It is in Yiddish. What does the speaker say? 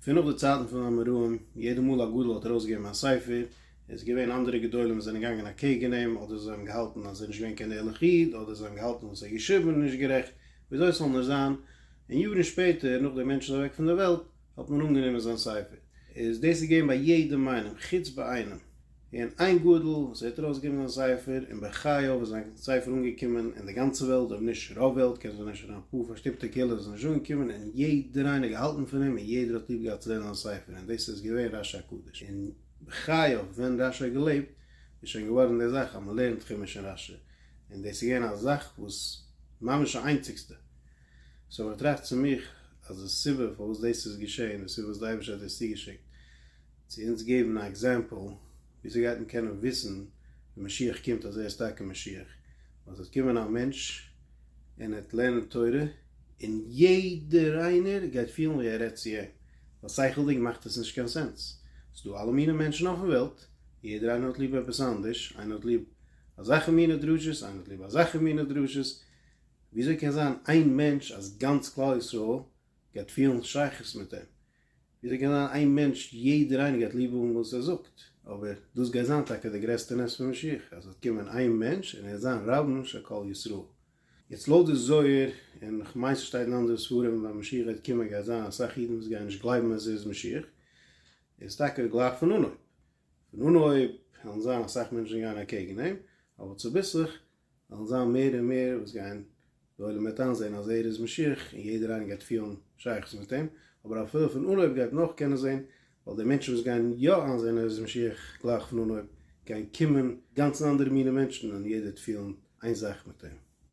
פון נאך די צייטן פון אמוראים, יעדע מאל א גדול האט ארויסגעגעבן א ספר, איז געווען אנדערע גדולים וואס זענען געגאנגען אקעגן אים, אדער זיי האבן געהאלטן אז ער איז נישט געווען קיין ערליך איד, אדער זיי האבן געהאלטן וואס ער האט געשריבן איז נישט גערעכט, וויאזוי עס זאל נאר זיין, און יארן שפעטער, נאך דער מענטש איז אוועק פון דער וועלט, האט מען אנגענומען זיין ספר. איז דאס איז געווען ביי יעדעם איינעם, חוץ ביי איינעם. און איין גאדל וואס ווערט ארויסגעגעבן זיין ספר און בחייו איז זיין ספר אנגעקומען אין די גאנצע וועלט אויב נישט רוב וועלט קען זיין אפשר א פאר פארשטופטע קהילות איז נישט אנגעקומען און יעדער איינער געהאלטן פון אים און יעדער האט ליב געהאט צו לערנען זיין ספר און דאס איז געווען רש י הקדוש און בחייו ווען רש י האט געלעבט איז שוין געווארן די זאך אז מען לערנט חומש אין רש י און דאס איז געווען א זאך וואס ממש א איינציגסטע סאו איך טראכט צו מיך אז די סיבה פארוואס דאס איז געשעהן די סיבה וואס די אייבערשטער האט דאס צוגעשיקט. צו אונז געבן א עקזעמפל וויאזוי גייט מען קענען וויסן ווען משיח קומט אז ער איז טאקע משיח? ווייל ס'וועט קומען א מענטש און ער וועט לערנען תורה און יעדער איינער גייט פילן ווי ער רעדט צו אים, ווייל שכל'דיג מאכט עס נישט קיין סענס. ס'דא אלע מיני מענטשן אויפן וועלט, יעדער איינער האט ליב עפעס אנדערש, איינער האט ליב אזעלכע מיני דרשות, איינער האט ליב אזעלכע מיני דרשות, וויאזוי קען זיין איין מענטש אז גאנץ כלל ישראל גייט פילן שייכות מיט אים? וויאזוי קען זיין איין מענטש יעדער איינער גייט ליב האבן וואס ער זאגט? אבער דאס גייט זיין טאקע די גרעסטע נס פון משיח אז וועט קומען איין מענטש און ער וועט זיין רבן של כל ישראל. יעצט לויט די זוהר און כ'מיין ס'שטייט אין אנדערע ספרים ווען משיח גייט קומען גייט זיין אסאך אידן וואס גייען נישט גלייבן אז ער איז משיח איז טאקע גלייך פון אנהויב פון אנהויב וועלן זיין אסאך מענטשן גייען אקעגן אים אבער צוביסלעך וועלן זיין מער און מער וואס גייען די עולם וועט איינזעהן אז ער איז משיח און יעדער איינער גייט פילן שייכות מיט אים, אבער א פלא פון אנהויב גייט נאך קענען זעהן, ווייל די מענטשן וואס גייען יא איינזעהן ער איז משיח גלייך פון אנהויב גייען קומען גאנץ אנדערע מיני מענטשן און יעדער וועט פילן איין זאך מיט אים.